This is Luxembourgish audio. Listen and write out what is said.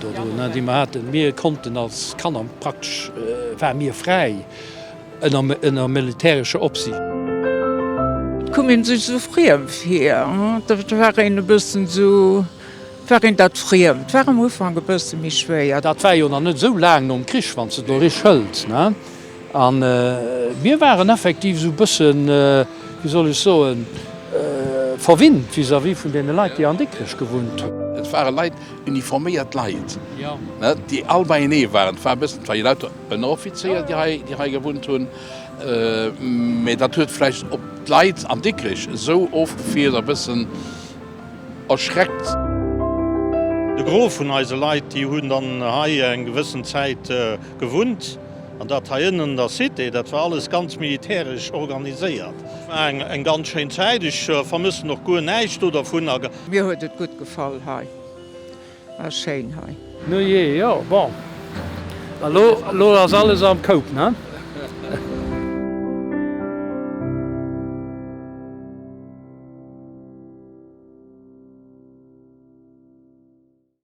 Dorunner, déi mer haten, mir konnten als Kanner praktesch, ware mir fräi ënner militärescher Opsiicht. Koum een sech esou friem vir, et war een e bëssen esou, et war een dat friem, et war am Ufank e bësse méi schwéier. Dat war jo nach net esou laang nom Krich, wann s de et elo richteg hëls. An mir waren effektiv esou e bësse, wéi soll ech soen, verwinnt vis-à-vis vun deene Leit, déi an Dikrech gewunnt hunn. Et ware Leit, Uniforméiert Leit, déi all beienee waren. Et war e bëssen, et war jo lauter Ënneroffizéier, déi hei gewunnt hunn. Mä dat huet vläicht op d'Leit an Dikrech esou ofgefiert, e bëssen erschreckt. De Gros vun eise Leit, déi hunn dann hei eng gewëssen Zäit gewunnt. An dat hei ënnen an der Cité, dat war alles ganz militäresch organiséiert. Et war eng ganz schéin Zäit. Ech vermëssen och guer näischt do dervun. Mir huet et gutt gefall hei, war schéin hei. Nu jee, jo bon, elo ass alles am Koup, ne?